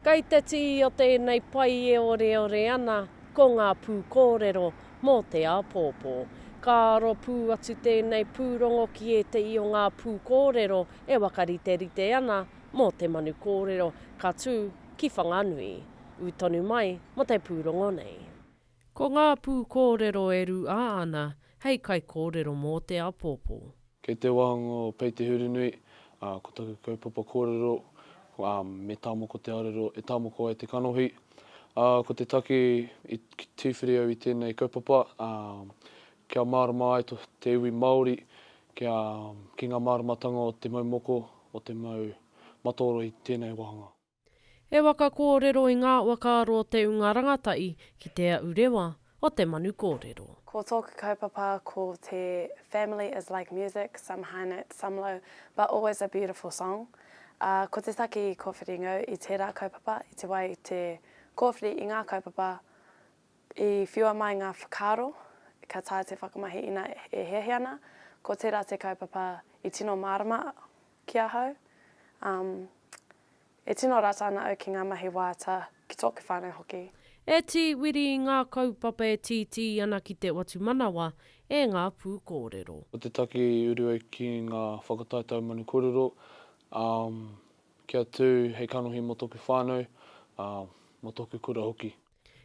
Kei te tii o tēnei pai e oreore ana ko ngā pūkōrero mō te āpōpō. Ka aro pū atu tēnei pūrongo ki ētehi o ngā pūkōrero e wakariterite ana, mō te manu kōrero ka tū ki Whanganui, ū tonu mai mō te pūrongo nei. Ko ngā pūkōrero e rūā ana hei kaikōrero mō te apōpō. Kei te wānanga o Pei Te Hurunui, ā, ko taku kaupapa kōrero, ā, me tāmoko te arero e tāmoko ai te kanohi. Ā, ko te take i, i tīwhiri au i tēnei kaupapa, ā, Kia mārama ai te iwi Māori kia, ki ngā māramatanga o te mau moko, o te mau mataoro i tēnei wāhanga. E waka kōrero i ngā wakaaro o te unga rangatahi ki Te Aʻu Rewa o te Manu Kōrero. Ko tōku kaupapa ko te family is like music, some high notes, some low, but always a beautiful song. Ā, ko te take i kōwhiri ngau i tērā kaupapa, i te wā i te kōwhiri i ngā kaupapa, I whiua mai ngā whakaaro, ka taea te whakamahi ina e hiahia ana, ko tērā te kaupapa i tino mārama ki ahau. Um, e tino rata ana au ki ngā mahi waiata, ki tōku whānau hoki. E Tī Wiri i ngā kaupapa e tītī ana ki te whatumanawa e ngā pūkōrero. Ko te taki uru au ki ngā whakatae taumanu kōrero, um, kia tū hei kanohi mō tōku whānau, uh, mō tōku kura hoki.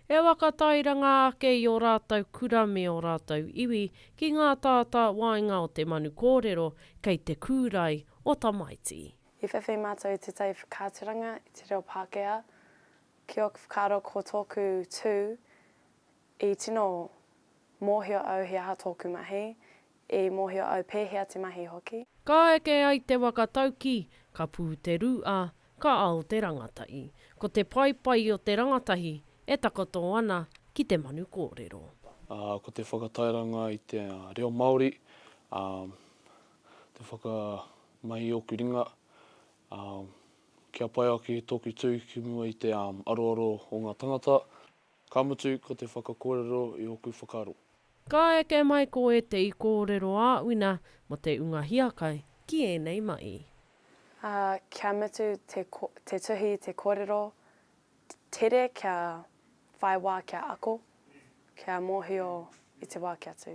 E whakatairanga ake i ō rātou kura me ō rātou iwi ki ngā tātā waenga o te manu kōrero kei te kūrae o tamaiti. I whawhai mātou i tētahi whakaaturanga i te reo Pākehā ki ōku whakaaro ko tōku tū i tino mōhio au he aha tōku mahi I mōhio au pēhea te mahi hoki. Ka eke ai te waka tauki, ka pū te rū ā, ka ao te rangatahi. Ko te paepae o te rangatahi e takoto ana ki te manu kōrero. Ā, ko te whakatairanga i te reo Māori, ā, te whakamahi i ōku ringa, ā, kia pai ake tōku tū ki mua i te aroaro o ngā tangata. Ka mutu, ko te whakakōrero i ōku whakaaro. Ka eke mai ko ētehi kōrero āwina mō te ūnga hiakai ki ēnei mahi. Ā, kia mutu te, te tuhi, te kōrero tere kia whai wā kia ako, kia mōhio i te wā kia tū.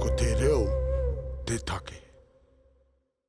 Ko te reo te take.